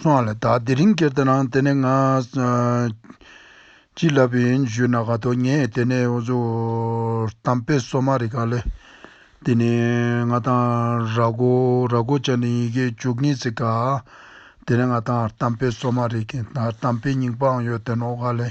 སོང་ལ་དྭགས་དེ་རིང་ཁྱེར་ད་ནང་དེ་ནས་ང་ཅི་ལབ་ཡིན་བཞུད་ན་ག་དོ་ངས་དེ་ནས་འུ་ཚོ་དམ་དཔེ་སོ་མ་རི་ག་ལས་དེ་ནས་ང་དང་ར་གོ་ར་གོ་ཅག་ནི་ཡི་གེ་བཅུ་གཉིས་ཚིག་ག་དེ་ནས་ང་དང་དམ་དཔེ་སོ་མ་རི་ག་དམ་དཔེ་རྙིང་པའང་ཡོད་དེ་ནོ་ག་ལས་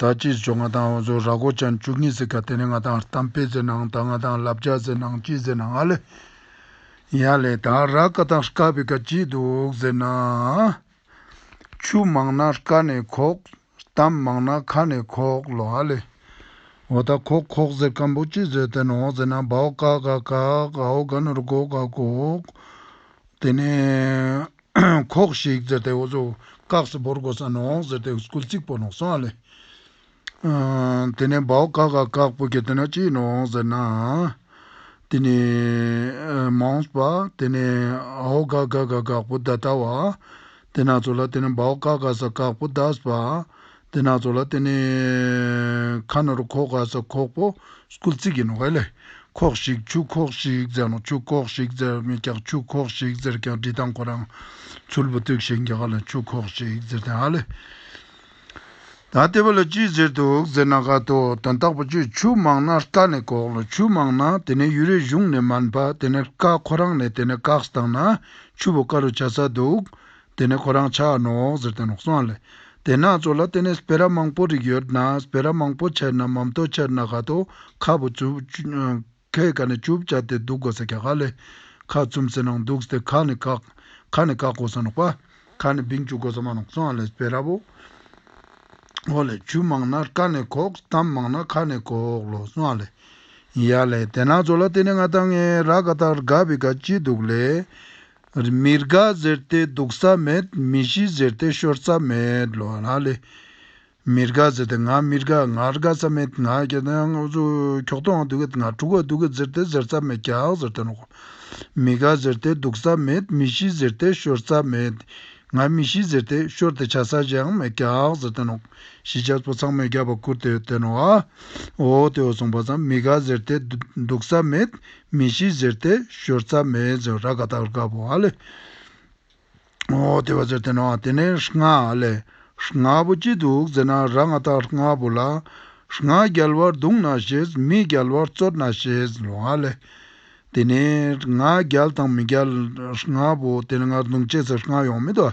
ད་ཅིའི་ཇོ་ང་དང་འོ་ཟོ་ར་གོ་ཅན་བཅུ་གཉིས་ཟེར་ག་དེ་ནས་ང་དང་གཏམ་དཔེ་ཟེར་ནའང་ད་ང་དང་ལབ་རྒྱག་ཟེར་ནའང་ཅི་ཟེར་ནའང་ཨ་ལེ། ཡ་ལེ་ད་ར་ཀ་དང་ཧྲ་ཀ་བི་ཀ་ཅི་འདུག་ཟེར་ན། ཆུ་མང་ན་ཀ་ནས་ཁོག། གཏམ་མང་ན་ཁ་ནས་ཁོག་ལོ་ཨ་ལེ། འོ་ད་ཁོག་ཁོག་ཟེར་སྐམ་པོ་ཅི་བཟོས་བསྟན་ནོ་ཟེར་ན་བའོ་ཀ་ག་ཀག་ཨའོ་ག་ནོར་གོ་ག་གོག། དེ་ནས། ཁོག་ཤིག་ཛེར་ཏེ་འོ་ཟོ། སྐག་སེ་བོར་གོ་ས་ནོག་ཟེར་ཏེ་སྐུལ་ཚིག་པོ་ནོག་སོང་ཨ་ལེ། དེ་ནས་བའོ་ཀ་ག་སྐག་སྤུ་གེ་དེ་ན་ཅི་ནོག་ཟེར་ན། དེ་ནས་མོང་པ་དེ་ནས་ཨའོ་ག་ག་ག་སྐག་སྤུ་ད་ད་བ། དེ་ན་ཚོ་ལ་དེ་ནས་བའོ་ཀ་ག་ས་སྐག་སྤུ་ད་སྤ། དེ་སྣ་ཚོགས་ལ་དེ་ནི་ཁ་ནོར་ཁོག་ག་ས་ཁོག་པོ་སྐུལ་ཚིག་ཡིན་ནོ་ཨེ་ལས། ཁོག་ཤིག་ཆུ་ཁོག་ཤིག་ཟེར་ན་ཆུ་ཁོག་ཤིག་ཟེར་མི་ཀྱག་ཆུ་ཁོག་ཤིག་ཟེར་ཀྱང་འབྲི་སྟངས་ཁོ་རང་ཚུར་བུ་བཏུགས་ཤིང་རྒྱ་གར་ལ་ཆུ་ཁོག་ཤིག་ཟེར་ཏེ་ཨ་ལས། ད་ལྟེ་བ་ལ་ཅི་ཟེར་འདུག་ཟེར་ན་ཁ་དོག་དོན་དག་པོ་ཆུ་ཆུ་མང་ན་རཀྟ་ནི་ཁོག་ལ་ཆུ་མང་ན་དེ་ནི་ཡུལ་རེ་གཞུང་ནས་མ་འབབ་དེ་ནི་རཀྟ་ཁོ་རང་ནས་དེ་ནི་བཀག་སྟངས་ན་ཆུ་བོ་ཀ་རུ་བྱ་ས་འདུག་དེ་ནས་ཁོ་རང་ཕྱག་ནོག་ཟེར་ཏེ་ནོག་སོང་ལ། དེ་ནག་ཚོ་ལ་བལྟས་ནས་སྤེ་ར་མང་པོ་རིགས་ཡོད་ན་སྤེ་ར་མང་པོ་ཆད་ན་མམ་ཏོ་ཆད་ན་ག་ཏོ་ཁ་བུ་བཅུ། ཁའི་ག་ནས་བཅུ་བཅའ་སྟེ་འདུག་གོ་ས་ག་ལས། ཁ་བཙུམ་སེ་ནང་འདུག་སྟེ་ཁ་ནས་བཀག། ཁ་ནས་བཀག་གོ་ས་ནོག་པ། ཁ་ནས་བིང་བཅུག་གོ་ས་མ་ནོག་སོང་ལ་སྤེ་ར་བོ། བོ་ལས་བཅུ་མང་ན་ཀ་ནས་གོག་གཏམ་མང་ན་ཁ་ནས་གོག་ལོ་སོང་ལ། ཡ་ལས་དེ་ནག་ཚོ་ལ་བལྟས་ནས་ང་ད་ངའི་ར་ག་ད་ར་ག་བི་ག་ཅི་འདུག་ལས། མི་དགའ་ཟེར་ཏེ་སྡུག་ས་མེད་མི་གཞི་ཟེར་ཏེ་ཤོར་ས་མེད། མི་དགའ་ཟེར་ཏེ་ང་མི་དགའ་ང་དགའ་ས་མེད་ང་གྱོད་ང་གྱོད་ཏོ་ང་དུག་ང་དྲུག་གོ་དུག་ཟེར་ཏེ་ཟེར་ས་མེད་གྱག་ཟེར་ཏེ་ནོག། མི་དགའ་ཟེར་ཏེ་སྡུག་ས་མེད་མི་གཞི་ཟེར་ཏེ་ཤོར་ས་མེད། ང་མི་གཞི་ཟེར་ཏེ་ཤོར་ཏེ་བྱ་ས་གཞག་མེད་གྱག་ཟེར་ཏེ་ནོག། གཞི་བྱ་སྤོ་ཚང་མས་རྒྱབ་པ་བསྐུར་ཏེ་ཏེ་ནོག། འོ་དེ་འོ་སོང་བ་ཙམ་མི་དགའ་ཟེར་ཏེ་སྡུག་ས་མེད་མི་གཞི་གཟེར་ཏེ་ཞོར་རྩ་མེད་རྫོ་ར་ག་དག་རྒ་བོ་ཨ་ལས་འོ་དེ་བ་ཟེར་ཏེ་ན་དེ་ནས་རྔ་ཨ་ལས་རྔ་བོ་ཅི་འདུག་ཟེར་ན་ར་ང་དག་རྔ་བོ་ལ་རྔ་རྒྱལ་བར་འདུག་ན་ཞེས་མི་རྒྱལ་བར་རྩོད་ན་ཞེས་ལོ་ཨ་ལས་དེ་ནས་རྔ་རྒྱལ་དང་མི་རྒྱལ་རྔ་བོ་དེ་ལ་ང་འདུག་ཅེས་ཟེར་རྔ་ཡོང་མི་འདུག་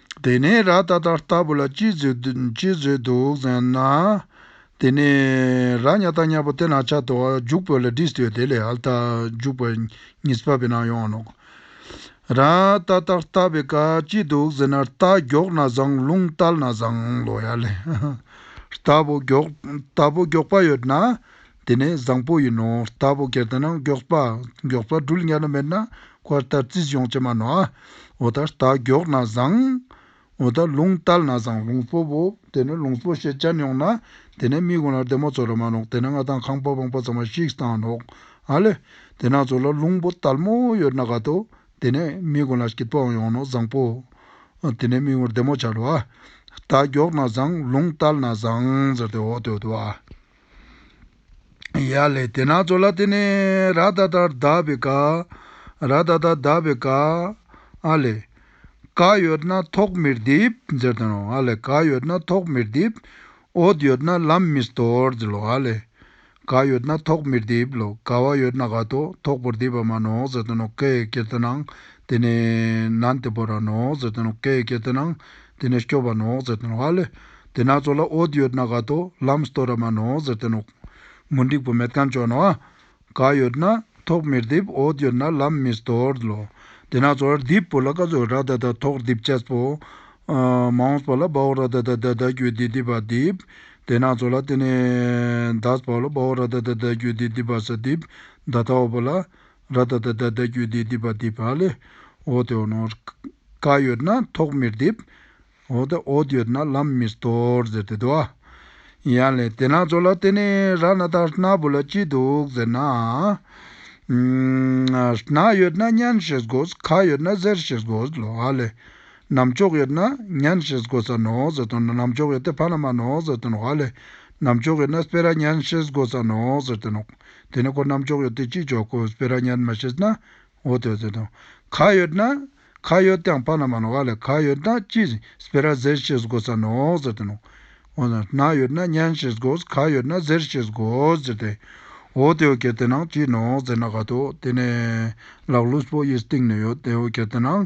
དེ་ནས་ར་ད་ད་ལྟ་བུ་ལ་ཅི་བཟོས་འདུག་ཟེར་ན། དེ་ནས་ར་སྙ་ད་སྙ་པོ་དེ་ན་ཆ་དོ་རྒྱུག་བོད་ལ་འདྲིས་ཏེ་དེ་ལས་ཧལ་ད་རྒྱུག་པ་ཉིས་པ་བི་ན་ཡོང་ནོ། ར་ད་ད་ལྟ་བི་ཀ་ཅི་འདུག་ཟེར་ན་རྟ་མགྱོགས་ན་བཟང་རླུང་བཏལ་ན་བཟང་ལོ་ཡ་ལེ། རྟ་བུ་མགྱོགས་པ་ཡོད་ན་དེ་ནས་བཟང་པོ་ཡིན་ནོ་ལྟ་བུ་གལ་ཏེ་ན་མགྱོགས་པ་མགྱོགས་པ་འགྲུལ་དམྱལ་ན་མེད་ན་བཀའ་ལྟར་རྩིས་སྦྱོང་བྱེད་མ་ནོ། འོ་ད་རྟ་མགྱོགས་ན་བཟང། འོ་ད་ལུང་བསྟར་ན་བཟང་ལུང་སྤོབས་བོ་དེ་ནས་ལུང་སྤོབས་ཤེས་བྱ་ཉོག་ན་དེ་ནས་མིག་དགོང་ལ་བདེ་མོ་ཚོ་ལ་མ་ནོག་དེ་ནས་ང་དང་ཁང་པ་བང་པ་ཚང་མ་ཤིག་བཏང་ནོག་ཨ་ལེ། དེ་ན་ཚོ་ལ་ལུང་པོ་དལ་མོ་ཡོད་ན་ག་ཏོ་དེ་ནས་མིག་དགོང་ལ་སྐྱིད་པོའང་ཡོང་ནོ་བཟང་པོ། དེ་ནས་མིག་དགོང་བདེ་མོ་ཆ་ལ་བ། རྟ་མགྱོགས་ན་བཟང་ལུང་བསྟར་ན་བཟང་ཟེར་ཏེ་འོ་དོད་དུ་བ། ཡ་ལེ་དེ་ནག་ཚོ་ལ་དེ་ནས་ར་ད་ད་གདབ་པའི་ཀ། ར་ད་ད་གདབ་པའི་ཀ། ཨ་ལེ། ཀ་ཡོད་ན་ཐོག་མིར་རྡིབ་ཟེར་དོན་རོ་ཨ་ལེ་ཀ་ཡོད་ན་ཐོག་མིར་རྡིབ། འོད་ཡོད་ན་ལམ་མི་སྟོར་ཟེར་ལོ་ཨ་ལེ། ཀ་ཡོད་ན་ཐོག་མིར་རྡིབ་ལོ་ཀ་བ་ཡོད་ན་ག་ཏོ་ཐོག་པོར་རྡིབ་པ་མ་ནོག་ཟེར་དོན་རོ་ཀའི་གེ་དེ་ནང་དེ་ནས་ནན་དེ་པོ་ར་ནོག་ཟེར་དོན་རོ་ཀའི་གེ་དེ་ནང་དེ་ནས་སྐྱོབ་བ་ནོག་ཟེར་ཏེ་ནོག་ཨ་ལས། དེ་ནག་ཚོགས་ལ་ཨོད་ཡོད་ན་ག་ཏོ་ལམ་སྟོ་ར་མ་ནོག་ཟེར་ཏེ་ནོག། མུ་འགྲིག་པོ་མེད་ཀང་ཅོག་ནོག་ཨ། ག་ཡོད་ན་ཐོག་མིར་རྡིབ་ཨོད་ཡོད་ན་ལམ་མིར་སྟོར་ལོ། དེ་ནག་ཚོགས་ལ་རྡིབ་པོ་ལ་ག་ཚོ་ར་ད་ད་ཐོག་རྡིབ་ཅེས་པོ། མང་པོ་ལ་བའོ་ར་ད་ད་ད་ད་རྒྱུད་རྡིབ་རྡིབ་བ་རྡིབ། དེ་ནག་ཚོགས་ལ་དེ་ནས་ཟླ་བའོ་ལ་བའོ་ར་ད་ད་ད་རྒྱུད་རྡིབ་རྡིབ་བ་ཟ་རྡིབ་ཟླ་ཐའོ་པོ་ལ། ར་ད་ད་ད་ད་གྱོད་དེ་དེ་བ་དེ་བ་ལས་འོ་དེ་འོ་ནོ། ཀ་ཡོད་ན་ཐོག་མིར་འདེབས། འོ་ད་འོ་ད་ཡོད་ན་ལམ་མིར་དོར་ཟེར་ཏེ་དོ། ཡང་ལས་དེ་ནག་ཚོ་ལ་བལྟས་ནས་ར་ན་ད་ནག་བུ་ལ་ཅི་འདུག་ཟེར་ན། ནག་ཡོད་ན་གཉན་ཞེས་དགོས་ཁ་ཡོད་ན་གཟེར་ཞེས་དགོས་ལོ་ཨ་ལས། ནམ་མཆོག་ཡོད་ན་གཉན་ཞེས་དགོས་ས་ནོ་ཟེར་དོ་ནམ་མཆོག་ཡོད་དེ་བ་ན་མ་ནོ་ཟེར་དོ་ནོ་ཨ་ལས། ནམ་མཆོག་ཡོད་ན་སྤེ་ར་གཉན་ཞེས་དགོས་ས་ནོ་ཟེར་དོ་ནོ། དེ་ནི་ཁོ་རྣམས་ཅོག་ཡོད་དུ་ཅིས་འཇོག་གོ་སྤེ་ར་ཉར་མ་ཤེས་ན་འོ་དོད་དོད་དང། ག་ཡོད་ན། ག་ཡོད་དང་བ་ན་མ་ན་བ་ལས་ག་ཡོད་ན་ཅིས་སྤེ་ར་ཟེར་ཤེས་གོ་ས་ནོ་ཟེར་ཏེ་ནོ། འོ་ན་ན་ཡོད་ན་ཉན་ཤེས་གོ་ག་ཡོད་ན་ཟེར་ཤེས་གོ་ཟེར་ཏེ། འོ་དེ་འོ་གལ་ཏེ་ན་ཅིས་ནོ་ཟེར་ན་ག་དོ་དེ་ནས་ལག་ལུས་པོ་ཡིས་བཏིང་ནས་ཡོད་དེ་འོ་གལ་ཏེ་ན།